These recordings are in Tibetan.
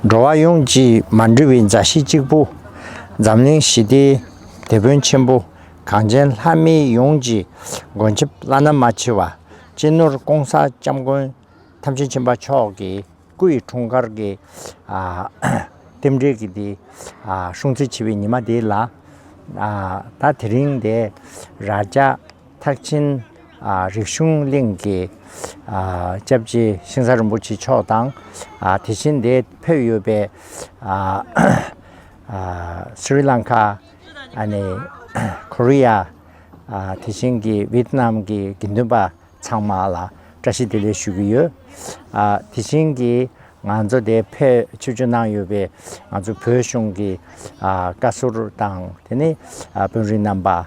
འགྲོ་བ་ཡོངས་ཀྱིས་མ་འདྲིས་པའི་མཛའ་བཤེས་གཅིག་པུ། འཛམ་གླིང་ཞི་བདེའི་དེད་དཔོན་ཆེན་པོ། གངས་ཅན་ལྷ་མི་ཡོངས་ཀྱི་མགོན་ཆེན་བླ་ན་མ་མཆིས་པ། གཅེས་ནོར་ཀོང་ས་སྐྱབས་མགོན་ཐམས་ཅད་མཁྱེན་པ་མཆོག་གི་སྐུ་ཡི་འཁྲུངས་སྐར་གྱི་རྟེན་འབྲེལ་གྱི་དེ་སྲུང་བརྩི་བྱེད་པའི་ཉི་མ་དེ་ལ། ད་དེ་རིང་འདི་རྭ་རྒྱ། ཐེག་ཆེན་རིག་གཞུང་གླིང་གི་སྐྱབས་རྗེ་ཤིང་བཟའ་རིན་པོ་ཆེ་མཆོག་དང། དེ་བཞིན་དེ་ཕེབས་ཡོད་པའི Sri Lanka། Korea། དེ་བཞིན་གྱི Vietnam གྱི་དགེ་འདུན་པ་ཚང་མ་ལ་བཀྲ་ཤིས་བདེ་ལེགས་ཞུ་གི་ཡོད། དེ་བཞིན་གྱི་ང་ཚོ་དེ་ཕེབས་ཆིབས་བསྒྱུར་གནང་ཡོད་པའི་ང་ཚོ་བོད་གཞུང་གི་བཀའ་ཟུར་དང་དེ་ནས་དཔོན་རིགས་རྣམ་པ།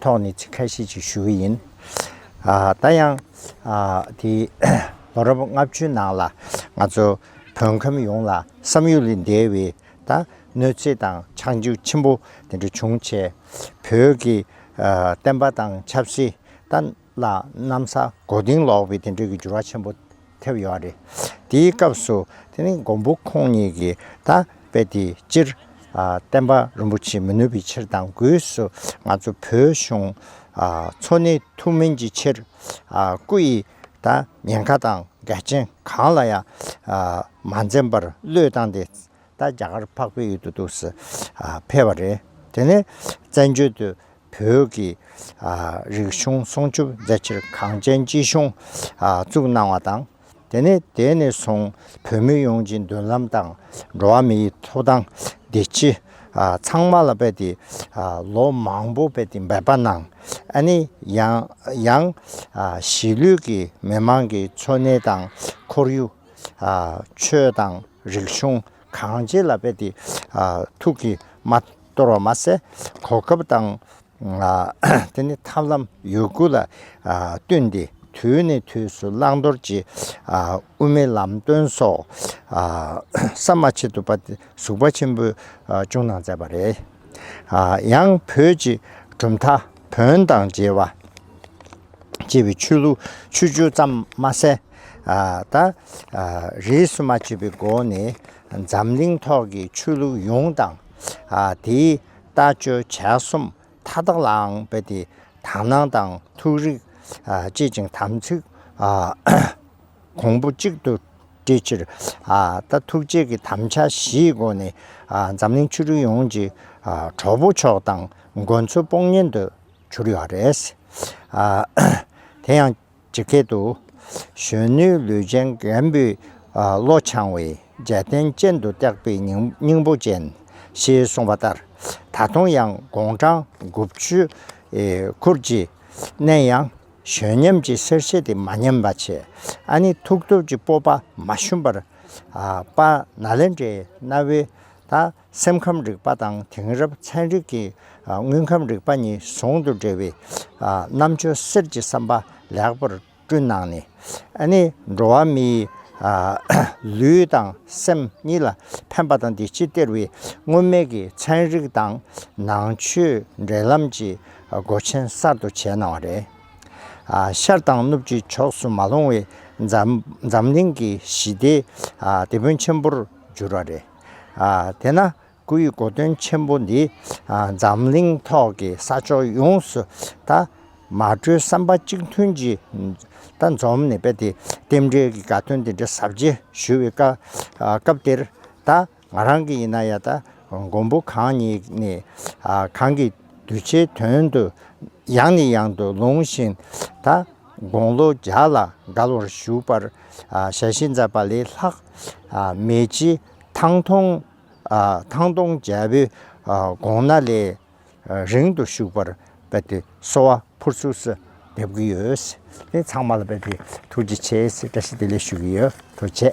ཐོག་ནས་ཚིག་ཁ་ཤས་ཅིག་ཞུ་གི་ཡིན། ད་ཡང་དེ་ལོ་རབས་ལྔ་བཅུའི་ནང་ལ་ང་ཚོ་བོད་ཁམས་ཡོངས་ལ་བསམ་ཡུལ་ལས་འདས་བའི་ད་གནོད་འཚེ་དང་ཆག་འཇིག་ཆེན་པོ་དེ་འདྲ་བྱུང་ཆེད་བོད་ཀྱི་བསྟན་པ་དང་ཆབ་སྲིད་ད། ལ་གནམ་ས་མགོ་རྟིང་ལོག་པའི་དེ་འདྲའི་འགྱུར་བ་ཆེན་པོ་ཐེབས་ཡོད་རེད། དེའི་སྐབས་སུ་དེ་ནི་མགོན་པོ་ཁོང་ཉིད་ཀྱིས་ད་དཔེ་དེ་སྤྱིར་བསྟན་པ་རིན་པོ་ཆེ་མི་ནུས་པའི་ཕྱིར་དང་སྒོས་སུ་ང་ཚོ་བོད་གཞུང་འཚོ་གནས་ཐུབ་མིན་གྱི་ཕྱིར། སྐུ་ཡི་ད་ཉེན་ཁ་དང་འགལ་རྐྱེན་གང་ལ་ཡང་མ་འཛེམས་པར་བློས་བཏང་སྟེ། ད་རྒྱ་གར་འཕགས་པའི་ཡུལ་དུ་འདུག་ཟེར་ཕེབས་པ་རེད། དེ་ནས་བཙན་བྱོལ་དུ་བོད་ཀྱི་རིག་གཞུང་སྲུང་སྐྱོབ་མཛད་ཕྱིར་གངས་ཅན་སྐྱིད་གཤོངས་བཙུགས་གནང་བ་དང། དེ་ནས་དེ་ནས་བཟུང་བོད་མི་ཡོངས་ཀྱི་མདུན་ལམ་དང་འགྲོ་བ་མིའི་ཐོབ་ཐང་བདེ་སྐྱིད་ཚང་མ་ལ་འབད་དེ་ལོ་མང་པོ་འབད་དེ་འབད་པ་གནང། ཨ་ནི་ཡང་གཞིས་ལུས་ཀྱི་མི་མང་གི་འཚོ་གནས་དང་ཁོར་ཡུག། ཆོས་དང། རིག་གཞུང་གང་ཅི་ལ་དཔེ་དེ་ཐུགས་ཀྱིས་མ་གཏོར་བ་མ་ཟད། གོ་སྐབས་དང། དེ་ནི་ཐབས་ལམ་ཡོད་དགུ་ལ་བསྟུན་ཏེ་དུས་ནས་དུས་སུ་བླང་དོར་གྱི་དབུ་མའི་ལམ་སྟོན་སོགས་ཟམ་མ་ཆད་དུ་པ་དེ་ཟུག་པ་ཆེན་པོས་ཅུང་གནང་མཛད་པ་རེད། ཡང་བོད་ཀྱི་གྲུབ་མཐའ། བོན་དང་རྗེས་བ། ཅེས་པའི་ཆོས་ལུགས་ཆོས་བཅུ་ཙམ་མ་ཟད། ད་རེས་སུ་མ་བྱས་པའི་སྒོ་ནས་འཛམ་གླིང་ཐོག་གི་ཆོས་ལུགས་ཡོངས་དང། དེའི་ལྟ་སྤྱོད་བྱ་གསུམ་མཐའ་དག་ལའང་རྦད་དེ་དག་སྣང་དང་ཐུགས་རིག་བསྐྱེད་ཅིང་དམ་ཚིག་གོང་བུ་གཅིག་ཏུ། སྤྲོད་ཕྱིར། ད་ཐུགས་རྗེ་གི་དམ་བཅའ་བཞིའི་སྒོ་ནས། འཛམ་གླིང་ཆོས་ལུགས་ཡོངས་ཀྱི་གྲོགས་པོ་མཆོག་དང་མགོན་ཚོ་སྤོང་གཉེན་དུ་གྱུར་ཡོད་རེད། དེ་ཡང་ཇི་སྐད་དུ། གཞོན་ནུའི་ལུས་ཅན་རྒན་པོའི་བློ་འཆང་བས། རྒྱལ་བསྟན་སྤྱན་དུ་བཏེགས་པའི་སྙིང་པོ་ཅན། ཞེས་གསུངས་པ་ལྟར་ད་དུང་ཡང་དགུང་གྲངས་དགུ་བཅུའི་འཁོར་གྱི་གནས་ཡང་གཞོན་ཉམས་ཀྱི་སེར་བྱེས་དེ་མ་ཉམས་པ་ཆེ། ཨ་ནི་ཐུགས་སྟོབས་ཀྱི་སྤོབས་པ་མ་ཞུམ་པར། པ་ན་ལེན་འདྲའི་གནའ་བོའི། དང་སེམས་ཁམས་རིག་པ་དང་དེང་རབས་ཚན་རིག་གི། དངོས་ཁམས་རིག་པ་གཉིས་ཟུང་དུ་འབྲེལ་བའི། རྣམ་དཔྱོད་གསེར་གྱི་བསམ་པ་ལེགས་པར་བསྐྲུན་གནང་ནས། ཨ་ནི་འགྲོ་བ་མིའི། ལུས་དང་སེམས་གཉིས་ལ་ཕན་པ་དང་དེ་ཕྱིར་སྟེར་བའི། སྔོན་མེད་ཀྱི་ཚན་རིག་དང་ནང་ཆོས་འབྲེལ་ལམ་གྱི། སྒོ་ཆེན་གསར་དུ་བྱས་གནང་བ་རེད། ཤར་དང་ནུབ་ཀྱི་ཕྱོགས་སུ་མ་ལྷུང་བའི་འཛམ་གླིང་གི་ཞི་བདེའི་དེད་དཔོན་ཆེན་པོར་འགྱུར་བ་རེད། དེས་ན་སྐུ་ཡི་གོ་སྟོན་ཆེན་པོ་འདིས་འཛམ་གླིང་ཐོག་གི་ས་ཕྱོགས་ཡོངས་སུ་དང་མ་བྲོའི་བསམ་པ་གཅིག་མཐུན་གྱིས་དང་འཛོམས་ནས་རྦད་དེ་རྟེན་འབྲེལ་གྱི་དགའ་སྟོན་འདི་འདྲ་ཟབ་རྒྱས་ཞུ་བའི་སྐབས་འདིར་དང། ང་རང་གི་ཡིན་ན་ཡང་ད་མགོན་པོ་གང་ཉིད་ནས་གང་གི་གདུལ་བྱའི་དོན་དུ་ཡང་ནས་ཡང་དུ་ལུང་བཞིན་ད་དགོངས་ལོ་བརྒྱ་ལ་དགར་བར་བཞུགས་པར་ཞལ་བཞེས་མཛད་པ་ལས་ལྷག་མེད་ཀྱི་ཐང་སྟོང་ཐང་སྟོང་རྒྱལ་པོའི་དགོངས་ན་ལས་རིང་དུ་བཞུགས་པར་དཔལ་ཏེ་གསོལ་བ་ཕུར་ཚུགས་སུ་འདེབས་ཀྱི་ཡོད། དེ་ཚང་མ་ལ་དཔལ་ཏེ་ཐུགས་རྗེ་ཆེ་ཞེས་བཀྲ་ཤིས་བདེ་ལེགས་ཞུ་གི་ཡོད་དོ་ཆེ།